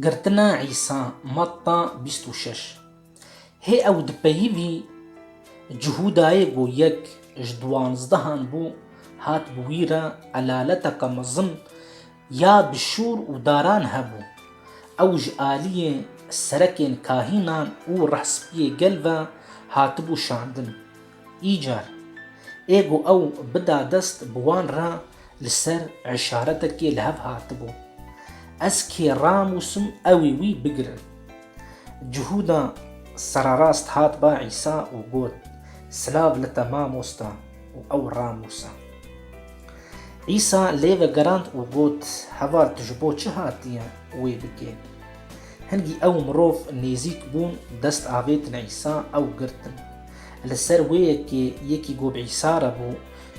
Girtina Îsa, Matta bîst û şeş Hê ew di peyivî Cihûdayê ku yek ji diwanzdehan bû, hat bi wî re elaleteke mezin ya bi şûr û daran hebû. Ew ji aliyê serekên kahînan û rehspiyê gel ve hatibû şandin. Îcar ê ku ew bida dest bi wan re li ser îşaretekê li hev hatibû. Ez kê ranûsim ewî wî bigirin. Cihûda sererast hat ba Îsa û got, Silav li te mamosta û ew ranûsa. Îsa lê vegerand û got, Heval tu ji bo çi hatiye wê bikê? Hingî ew mirov nêzîk bûn dest avêtin Îsa ew girtin. Li ser wê yekê yekî ku bi Îsa re bû,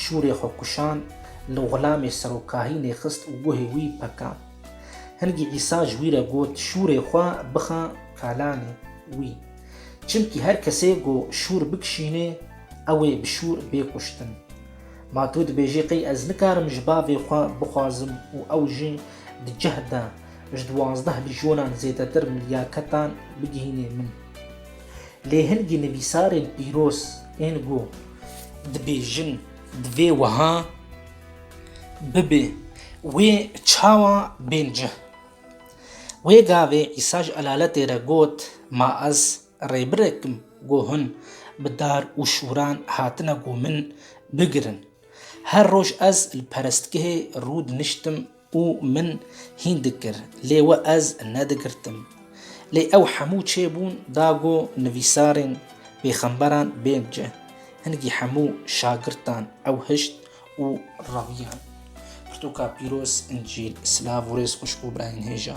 şûrê xwe kuşand, li xulamê serokahînê xist û guhê wî pekand. Hingî Îsa ji wî re got, Şûrê xwe bixe kalanê wî. Çimkî her kesê ku şûr bikişînê, ew ê bi şûr bê kuştin. Ma tu dibêjî qey ez nikarim ji Bavê xwe bixwazim û ew jî di cih de ji duwazdeh lijonan zêdetir milyaketan bigihînê min? Lê hingî nivîsarên pîroz ên ku dibêjin divê wiha bibe wê çawa bên cih. Wê gavê Îsa ji elaletê re got, Ma ez rêbirek im ku hûn bi dar û şûran hatine ku min bigirin. Her roj ez li perestgehê rû diniştim, û min hîn dikir lê we ez nedigirtim. Lê ew hemû çê bûn da go nivîsarên pêxemberan bên cih. Hingî hemû şagirtan ew hişt û rewiyan. Pirtûka pîroz, Încîl, silav û rêz xwişk û birayên hêja.